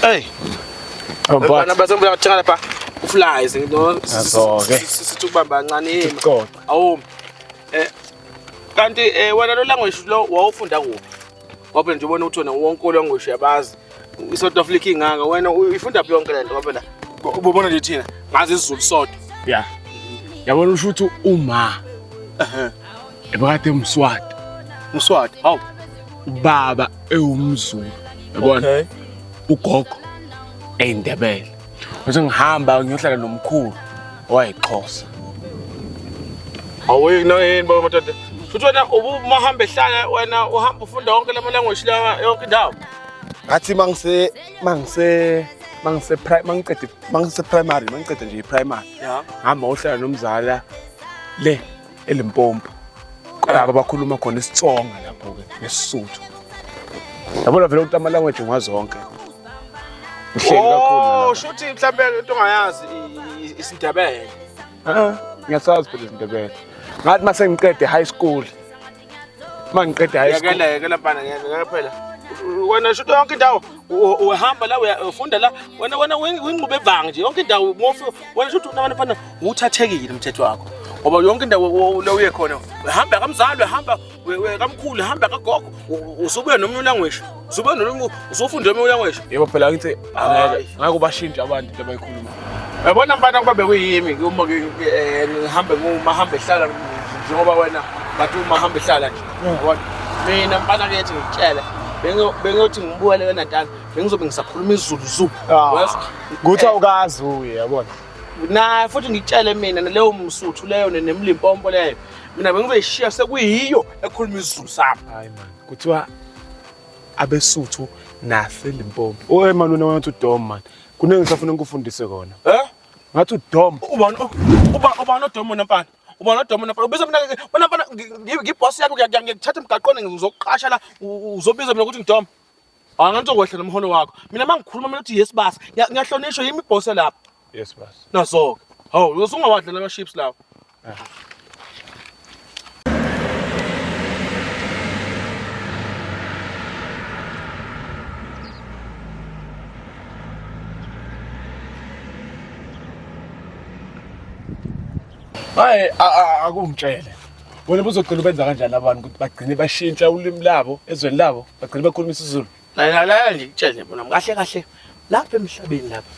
Hey. Oh, but. Bana baze ngibula ngathenga lapha. Uflies ngino. Azoke. Sithi ubamba kancane yini? Awumi. Eh kanti eh wena lo language lo wawufunda kuphi? Ngoba nje ubona ukuthi wena wonke olongoshe yabazi. I-South Africa ingaka wena uyifunda phi yonke le nto ngoba la ubona nje thina ngazi isiZulu sodwa. Yeah. Yabona usho ukuthi uma. Ehhe. Ebakade umswati. Umswati. Hawu. Baba ewumzulu. Yabona? Okay. Ugogo eindebele. Ngithi ngihamba ngiyohlala nomkhulu owayixhosa. Awuyiki nawe yini baba madoda? Futhi wena ubumahamba ehlala wena uhamba ufunda wonke lama language la yonke indawo. Ngathi mangise mangise mangise prime mangiqede mangise primary mangiqede nje primary. Yeah. Hamba uhlala nomzala le elimpompo qala abakhuluma khona isitsonga lapho ke nesisuthu yabona vele ukuthi ama language ngwazonke uhleli kakhulu oh shuthi mhlambe into ongayazi isindebele ah ngiyasazi phela isindebele ngathi mase ngiqede high school uma ngiqeda high school yekela yekela bana ngeke phela wena shuthi yonke indawo uhamba la uyafunda la wena wena wingqube ebanga nje yonke indawo ngofu wena shuthi unabantu fana uthathekile umthetho wakho ngoba yonke indawo la uye khona uhamba kamzali uhamba kamkhulu uhamba kagogo usubuya nomnye ulanguage Zoba nolungu usofunda emeya ngisho. Yebo phela ngithi angeke ngeke ubashintshe abantu into abayikhuluma. Yabona mfana kuba bekuyimi uma eh, ngihambe nguma hambe hlala njengoba wena bathi uma hambe hlala nje. Yabona. Mina mfana kethi ngitshele bengiyothi ngibukele wena dala bengizobe ngisakhuluma izulu zulu. Ah. Kuthi awukazi uye yabona. Naye futhi ngitshele mina naleyo msuthu leyo nemlimpompo leyo. Mina bengizoyishiya sekuyiyo ekhuluma izulu sami. Hayi manje. kuthiwa abesuthu naselimpopo oe mani wena wathi udom mani kuningi ngisafuna ngikufundise kona eh ngathi udom ubani uba ubani odom wena mfana ubani odom wena mfana ubiza mina wena mfana ngiboss yakho ngiyakuthatha emgaqweni ngizokuqasha la uzobiza mina ukuthi ngidom Hayi ngani uzokwehla nomholo wakho. Mina mangikhuluma mina uthi yes basa. Ngiya- Ngiyahlonishwa yimi boss lapha. Yes basa. Nazoke. Hawu, usungawadlela ama chips lawo. Hayi a- a- akungitshele. wena buzogcina ubenza kanjani abantu ukuthi bagcine bashintsha ulimi labo ezweni labo bagcine bakhuluma isizulu lalalala ndikutshele bona kahle kahle lapha emhlabeni lapha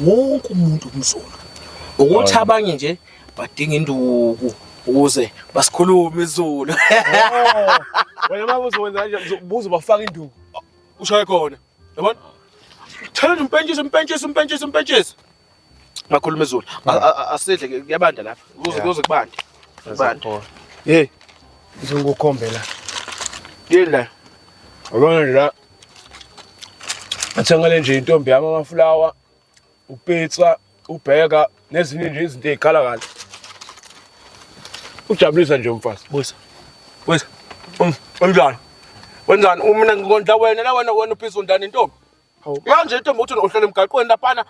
wonke umuntu umzulu ukuthi abanye nje badinga induku ukuze basikhulume izulu oh, wena mama uzokwenza kanje buze bafaka induku ushaye khona yabona thelele umpentshisi umpentshisi umpentshisi umpentshisi Ngakhuluma izulu. Asidle kuyabanda lapha. Kuze kuze kubande. Kubande. Hey. Ngizokukhombela. Yini la? Abona la. Athengele nje intombi yami amafulawa, upizza, ubheka nezinye nje izinto ezikhala kahle. Ujabulisa nje umfazi. Busa. Busa. Unjani? Wenzani? Uma mina ngikondla wena la wena wena upizza undani intombi? Yazi nje into ukuthi uhlele emgaqweni laphana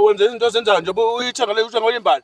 wenze izinto ozenzayo nje uyithenga le uthenga oyimbali.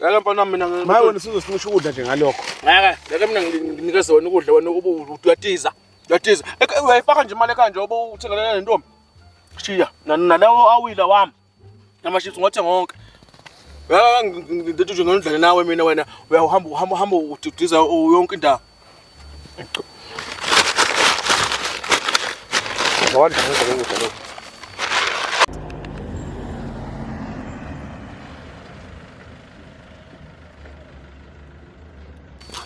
Ngeke mfana mina ngeke. Maye wena sizosincisha ukudla nje ngalokho. Ngeke, ngeke mina nginike zona ukudla wena uyatiza. Uyatiza. Uyayifaka nje imali ekanje obo uthengelele lentombi. Shiya, nalawo awila wami. Amashithi ngothe ngonke. Ya ngithi nje ngondlale nawe mina wena uyahamba uhamba uhamba udidiza yonke indawo. Ngwadla ngizwe ngizwe lokho.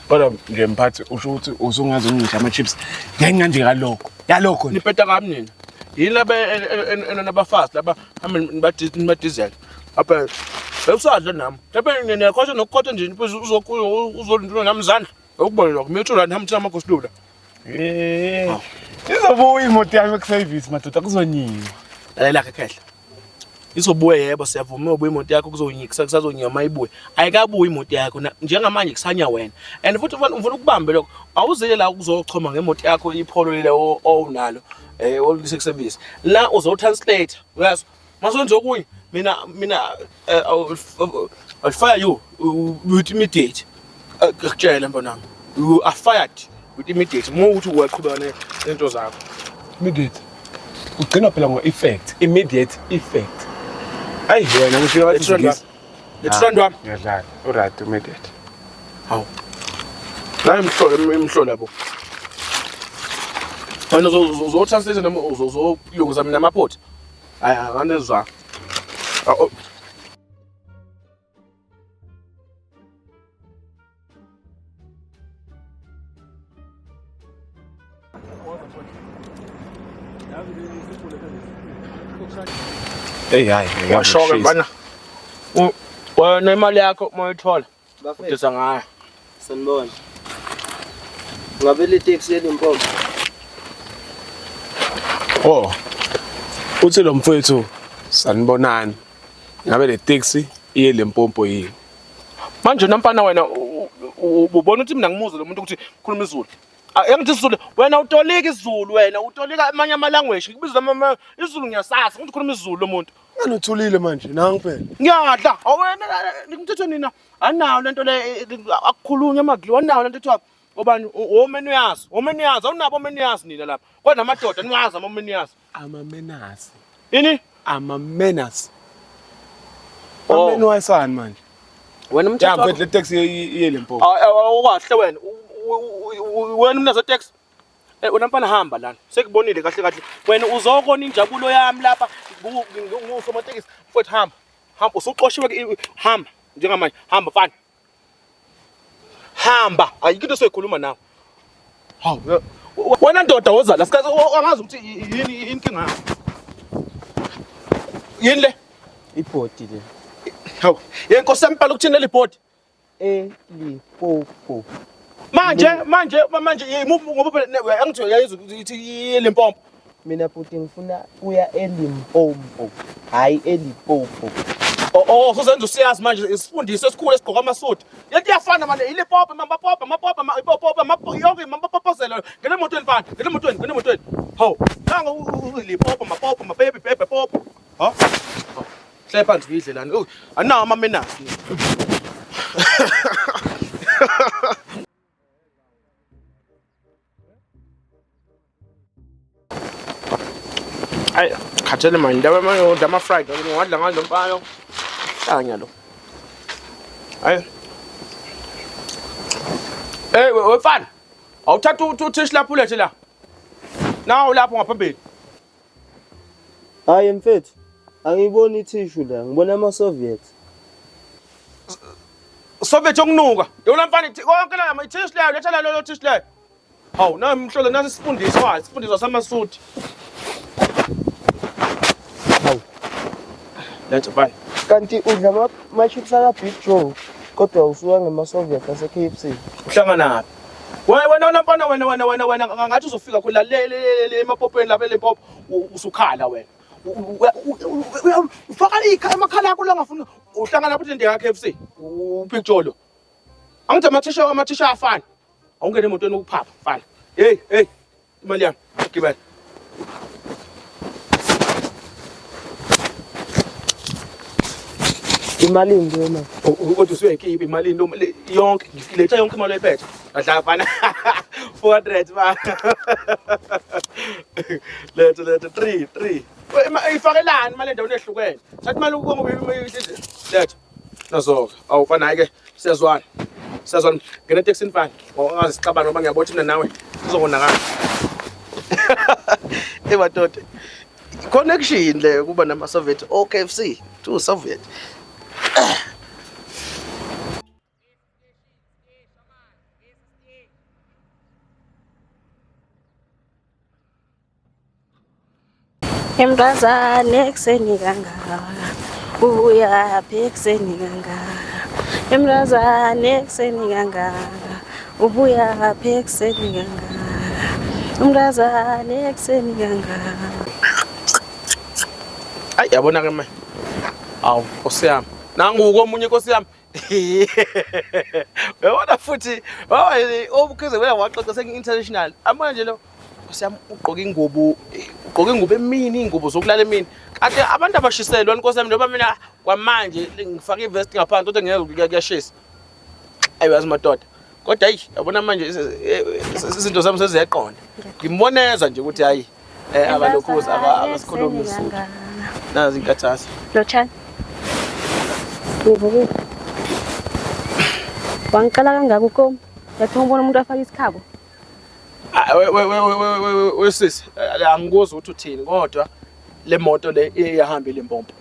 kodwa nje mphathi usho ukuthi usungazi ungisha ama-chips ngenxa nje kalokho yalokho nje nipeta kami nina yini laba enabafazi laba hambe nibadizela apha bekusadla nami lapha niyakhotha nokukhotha nje uzolintulo nami izandla okubona lokho mithula nihambe thina amagosilula Eh. Izobuya imoto yami kuservice madoda kuzonyiwa. Lalela ke khehla. Izobuya yebo siyavuma ubuya imoto yakho kuzonyikisa kusazonyiwa mayibuye. Ayikabuyi imoto yakho njengamanje kusanya wena. And futhi ufuna ufuna ukubambe lokho. Awuzile la ukuzochoma ngemoto yakho ipholo lelo owunalo. Eh olise kuservice. La uzotranslate. Uyazi Masonzo kunye mina mina eh, I'll fire you with immediate. Akutshela eh, mfana. You are fired with immediate. Uma uthi uyaqhubeka nento zakho. Immediate. Ugcina phela ngo effect, immediate effect. Ayi wena ngisho wathi ngizwe. Ngithanda wami. Ngiyadlala. Uright immediate. Hawu. La imhlola imhlola bo. Wena uzothatha lezi noma uzozilungisa mina amaphoti. Ay, ay, anne zwa. Ah, oh. Hey, hayi, Washoke ngiyashisa. mfana. U- Wena imali yakho uma uyithola Bafethu ngayo. Sanibona. Ngabe le taxi yeli mpompo. Oh. Uthi lo mfethu sanibonani. Ngabe le taxi iye lempompo yini? Manje nampana wena ubona ukuthi mina ngimuze lo muntu ukuthi khuluma izulu. Engithi isizulu wena utolika isizulu wena utolika amanye ama language ngikubiza ama isizulu ngiyasasa ngithi khuluma isizulu lo muntu. Ngani uthulile manje nangu phela. Ngiyadla. Awena ngimthetho nina. Anayo lento le akukhulunywa amadliwa anayo lento ethiwa obani omeni uyazi. Omeni uyazi awunabo omeni uyazi nina lapha. Kodwa amadoda niwazi amomeni uyazi. Ama menazi. Yini? Ama menazi. Oh. Omeni wayisani manje? Wena umthetho. Ya ngwedle taxi yele mpo. Awukahle wena. Wena umnazo taxi. Eh wena mfana hamba lana. Sekubonile kahle kahle. Wena uzokona injabulo yami lapha ngusomatekisi. Mfowethu hamba. Hamba usuxoshiwe hamba njengamanje. Hamba mfana. Hamba. Ayikho into soyikhuluma nawe. Hawu. Eh, wena ndoda woza la sikaze angazi ukuthi yini inkinga yakho. Yini le? Ibhodi le. Hawu. Yenkosi yami bhala ukuthini leli bhodi? eLimpopo. Manje manje manje imuphi ngoba phela angithi uyayizwa ukuthi iLimpopo. Mina bhuti ngifuna uya eLimpopo, hayi eLimpopo. Oh, oh sozenza usiyazi manje isifundiswa esikhulu esigqoka amasudi. Lento iyafana manje iLimpopo mama popa mapopa mapopa mapopa yonke mama popozela ngene emotweni mfana ngene emotweni ngene emotweni. Hawu nanga uLimpopo mapopa mababy baby popa. Ha? Hlale phansi uyidle lana. Oh, anawo ama manners. Ay, khathele manje ndaba manje udla ama fried ngoba ngadla ngalo mpayo. Hlanya lo. Ay. Hey, wefana. Awuthatha uthishi lapho ulethe la. Nawu lapho ngaphambili. Hayi mfethu, angiyiboni ithishu la, ngibona ama-Soviet. Soviet yokunuka. Yona mfana ithi konke la ithishu leyo, letha la lelo thishu leyo. Hawu, nayo mhlolo nasi isifundiswa, wayo, isifundiswa samasuthi. Hawu. Letha bani. Kanti udla ama-chips aka-Big Joe kodwa usuka ngema-Soviet ase-KFC. Uhlanganaphi? Wena wena wena mfana wena wena wena wena ngathi uzofika khona le le le emapopeni lapha le pop usukhala wena. Ufaka ikhaya emakhala akho langafuna uhlangana futhi ndiya KFC upictolo. Angithi amathisha amathisha afana. Awungene emotweni ukuphapha mfana. Hey hey Imali yami, gibela. Imali nje mama. Kodwa usuyayikhipha imali noma yonke ngiletha yonke imali oyiphethe. Adla fana. 400 ba. Letha letha 3 3. Ifakelani imali endaweni ehlukene. Thatha imali ukubonga uyibiyihle. Letha. Nazoka. Awu mfana hayi ke siyazwana. Siyazwana. Ngena taxi mfana. Ungazi sixabana ngoba ngiyabona mina nawe sizokonakala. Ebadoda. Connection le kuba nama Soviet o KFC to Soviet. Emntazane ekuseni kangaka ubuyaphi ekuseni kangaka emntazane ekuseni kangaka ubuyaphi ekuseni kangaka umntazane ekuseni kangaka ayi yabona ke manje awu nkosi yami nangu komunye nkosi yami Uyabona futhi baba obukhize wena waxoxa sengi international. Amona nje lo siyam ugqoka ingubo ugqoka ingubo emini ingubo zokulala emini. Kade abantu abashiselwa inkosi yami noma mina kwamanje ngifaka ivest ngaphansi kodwa ngeke kuyashisa. Ayiwazi madoda. kodwa ayi yabona manje izinto zami seziyaqonda ngimboneza nje ukuthi hayi eh abalokhuza abasikhulumi isizulu nazi inkathazo lochani ngivukile wangicela kangaka ukomi yathi umbona umuntu afaka isikhabo wesisi angikuzwa ukuthi uthini kodwa le moto le iyahamba ile mpompo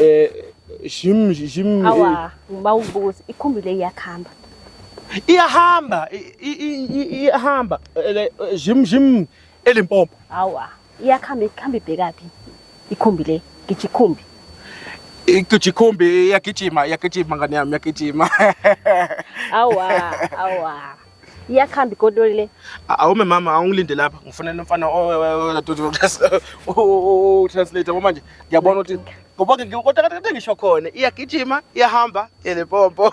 Eh shim shim awa bawubuka ukuthi ikhumbi le iyakhamba iyahamba i- i- i- i- iyahamba ele- jim jim elimpompo awa iyakhamba ikhamba ibhekaphi ikhumbi le ngitsho ikhumbi igijikhumbi iyagijima iyagijima ngane yami iyagijima awa awa iyakhamba igodoli le awume mama awungilinde lapha ngifanele umfana utranslate yabo manje ngiyabona ukuthi ngoba kodwa kade ngisho khona iyagijima iyahamba yelepompo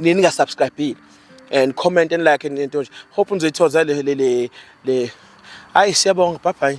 nini ninga subscribe and comment and like and into nje hope nizoyithoza le le le hayi siyabonga bye bye